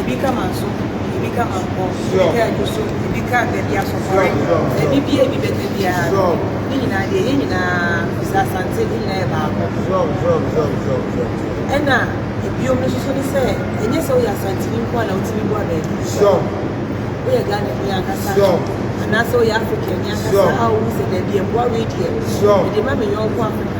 Ebi ka manso, ebi ka mankɔ, ebi ka aguso, ebi ka baabi asɔfɔre, ebi bia ebi bɛka biara no, ne nyinaa deɛ yɛn nyinaa sɛ asante ne nyinaa yɛ baako. Ɛna ebiom no soso ne sɛ ɛnyɛ sɛ woyɛ asanteni nko a na wotumi boa baabi. Woyɛ Ghana ni ankasa anaasɛ woyɛ African ni ankasa a wohu sɛ baabi ɛboa wei deɛ mede ma me yɔnko Africa.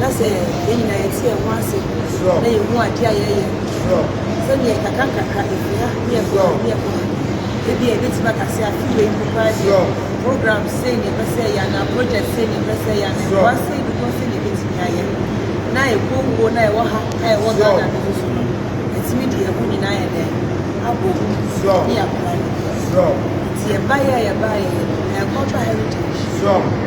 na sɛ yɛn nyinaa yɛte yɛn ho ase na yɛhu adeɛ a yɛyɛ no sɛdeɛ nkakrankakra ɛhia ne ɛboa ne ɛboa ebi a ɛbɛtumi aka sɛ afe wei mu koraa deɛ program sei ne ɛpɛ sɛ yɛ anaa project sei ne ɛpɛ sɛ yɛ anaa ɛboa sei ne boa sei ne ɛbɛtumi ayɛ na ɛkɔ wuo na ɛwɔ ha na ɛwɔ Ghana no mu so no ɛtumi deɛ ɛho nyinaa yɛ dɛn abɔ mu ne yɛapra no nti yɛbaeɛ a yɛbaeɛ yɛ no ɛkɔfa heritage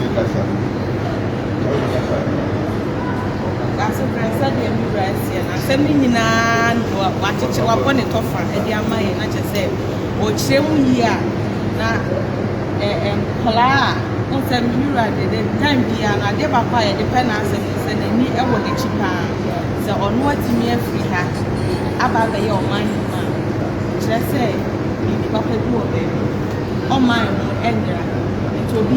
Mekasa, na ɔnkasa. Asase brɛ sɛdeɛ me Wura seɛ, na asɛm no nyina ara no mu a, wakyekyɛ, wabɔ ne tɔfa de ama yɛn, na kyerɛ sɛ, ɔkyerɛ mu yie a, na ɛ, ɛ, nkwadaa a, wohu sɛ me Wura de, de time biara no, adeɛ baako a yɛde pɛ n'asɛm ne sɛ, n'ani wɔ n'akyi paa, sɛ ɔno atumi afiri ha aba abɛyɛ ɔman no mu a, kyerɛ sɛ, biribi papa bi wɔ baabi, ɔman no nyera, nti obi.